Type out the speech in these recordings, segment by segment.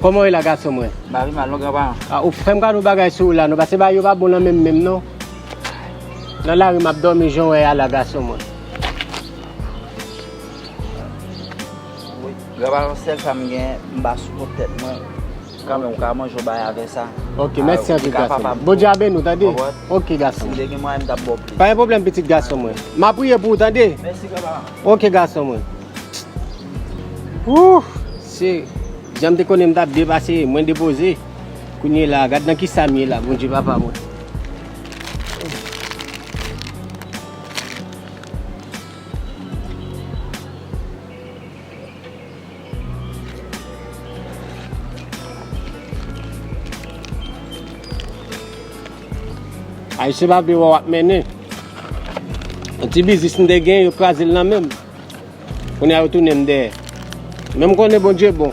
Koman ye la gason mwen? Ba vi mal non gran pa. A ou frèm ka nou bagay sou la nou pase ba yo pa bon nan menm menm non. Nan la ri map dormi jan wè ya la gason mwen. Gran pa yon sel sa m gen m ba sou pot tèt mwen. Kanmen ou ka manje ou bay avè sa. Ok mèsi anpil gason mwen. Bondye a beni w tande. Ou wè? Ok gason mwen. Si m te gen mwayen m tap ba w plis. Pa gen pwoblèm pitit gason mwen. M ap priye pou ou tande. Mèsi papa. Ok gason mwen. Ooh! Se jan m te konnen m tap depase, mwen depoze. Kounye la, gad nan kisa m ye la Bondye papa mwen. Ay se pa biwa wap mennen. An ti bizis m de gen yo kraze l nan menm. Kounye a yo tounen m dèyè. Men m konnen Bondye bon.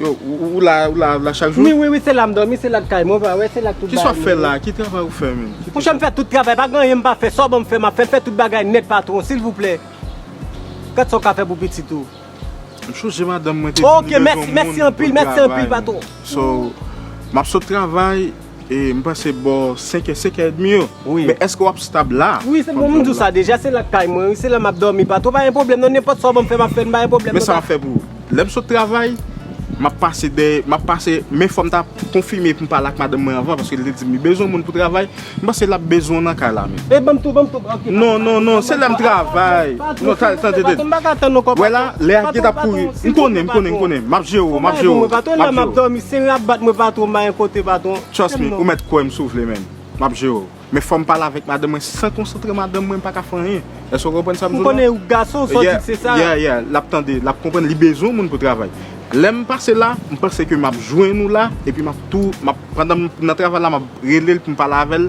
Yo, ou la, ou la, ou la chak jou? Wi, wi, wi, se la m dòmi, se la k kay mwen, pa wè, se la k tout bagay mwen. Kisa w ap fè la a? Ki travay ou fè menm? Monchè, m fè tout travay, pa gen anyen m pa fè. Sa w ban m fè, m ap fè l. Fè tout bagay nèt patwon, silvouplè. Gad sa w ka fè pou pitit ou. M chonje madanm mwen te di m bezwen yon moun pou travay m. Ok, mèsi, mèsi anpil, mèsi anpil patwon. So, m ap sot travay. E m panse bò 5 è 5 è edmi yo. Men èske w ap stab la? Wi se bon m di w sa deja se la kay mwen wi se la m ap dòmi pa two pa gen pwoblèm non nenpòt sa w ban m fè m ap fè l m pa gen pwoblèm non. Men sa m ap fè pou ou. Lè m sot travay m ap pase dè m ap pase men fò m ta konfime pou m pale ak madanm mwen anvan paske li te di m li bezwen moun pou travay m panse l ap bezwen w nan kay la men. Ey banm tou banm tou ok pa Non non non se lèm travay non tal tan tan tan Mbaka tann non kòm Wè la lè a geta pouri M konnen m konnen m konnen map jere w map jere w map jere w Mwen la map dòmi se rap bat mwen patwon m bayen kote patwon Trust me ou mèt kwè m si w vle menn map jere w men fòm pale avèk madanm mwen san konsantre madanm mwen m paka fè anyen èske w konprann sa m di w la M konnen ou gason sa w di m se sa Yeah yeah lap tande lap konprann li bezwen moun pou travay lèm pase la m panse ke map jwenn ou la epi map tou map pandan m nan travay la map rele l pou m pale avè l